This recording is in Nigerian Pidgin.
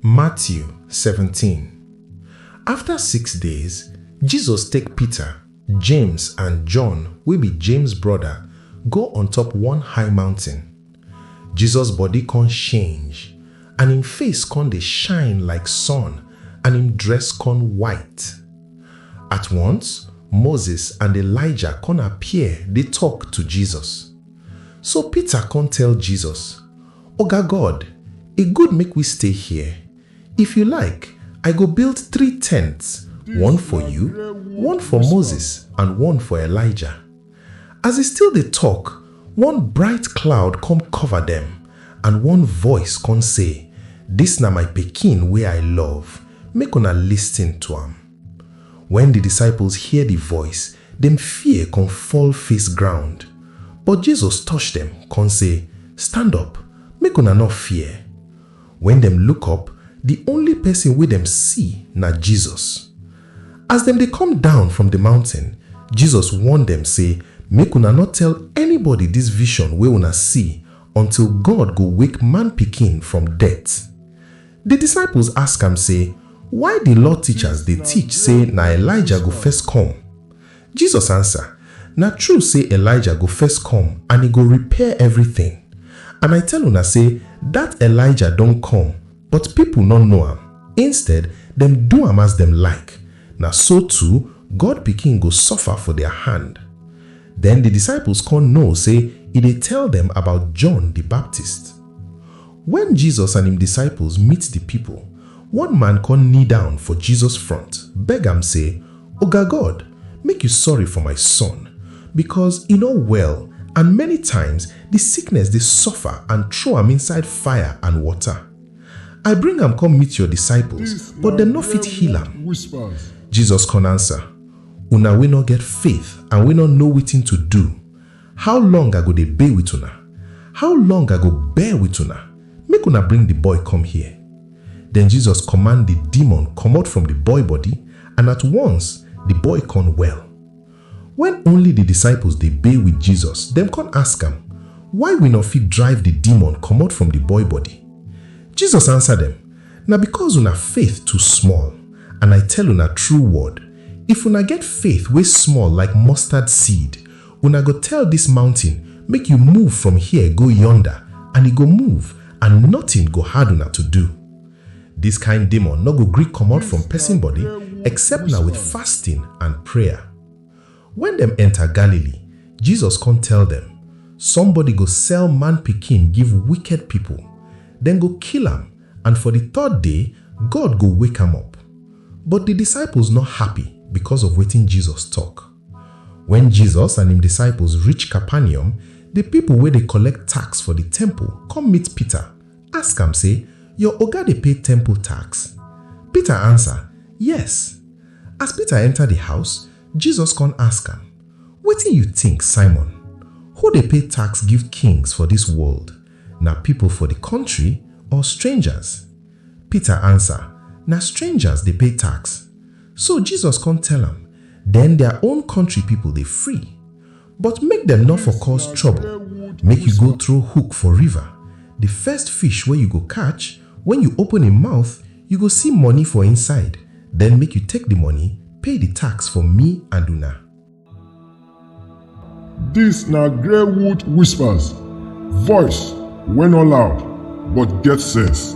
Matthew 17 After six days, Jesus take Peter, James and John wey be James brother go on top one high mountain. Jesus body con change and im face con dey shine like sun and im dress con white. At once, Moses and Elijah con appear dey talk to Jesus. So Peter con tell Jesus, Oga God, e good make we stay here. If you like, I go build three tents, one for you, one for Moses, and one for Elijah. As e still dey talk, one bright cloud come cover dem, and one voice come say, Dis na my Pikin wey I love, make una lis ten to am. Wen di disciples hear di voice, dem fear kon fall face ground. But Jesus touch dem, kon sey, Stand up, make una nor fear! Wen dem look up, di only pesin wey dem see na Jesus. As dem dey come down from di mountain, Jesus warn dem sey, Make una nor tell anybody dis vision wey una see until God go wake Man-Pikin from death. Di disciples ask am sey, Why di law teachers dey teach sey na Elijah go first come? Jesus ansa, Na true sey Elijah go first come and e go repair evritin. And I tell una sey dat Elijah don come, but pipo nor know am, instead dem do am as dem like. Na so too, God Pikin go suffer for dia hand. Den di disciples kon know sey e dey tell dem about John di Baptist. Wen Jesus and im disciples meet di pipol, one man kon knee down for Jesus front, beg am sey, Oga God, make yu sorry for my son, bikos e nor well and many times di sickness dey suffer and throw am inside fire and water. I bring am kom meet yor disciples, but dem nor fit heal am. Jesus kon ansa. Una wey nor get faith and wey nor know wetin to do, how long I go dey bey with una? How long I go bear with una? Make una bring di boy come here. Den Jesus kommand di demon komot from di boy body and at once di boy kon well. Wen only di disciples dey bey with Jesus, dem kon ask am, Why we nor fit drive di demon komot from di boy body? Jesus ansa dem, Na bikos una faith too small. And I tell una true word, if una get faith wey small like mustard seed, una go tell dis mountain, Make yu move from here go yonda, and e go move, and notin go hard una to do. Dis kain demon nor go gree komot from pesin body except na with fasting and prayer. Wen dem enta Galilee, Jesus kon tell dem, Somebody go sell Man Pikin give wiked pipol, dem go kill am and for di third day, God go wake am up. But di disciples nor happy bikos of wetin Jesus tok. Wen Jesus and im disciples reach Capernaum, di pipol wey dey kollect tax for di temple kom meet Peter, ask am sey, Yor Oga dey pay temple tax? Peter ansa, Yes. As Peter enta di house, Jesus kon ask am, Wetin yu tink, Simon? Who dey pay tax give kings for dis world, na pipol for di kontri or stranjas? Peter ansa, Na stranjas dey pay tax. So Jesus kon tell am, Den dia own kontri pipol dey free. But make dem nor for cause trouble, make you go throw hook for river, the first fish wey you go catch, when you open im mouth, you go see money for inside, then make you take the money pay the tax for me and una. Dis na Greywood Whispers, voice wey no loud but get sense.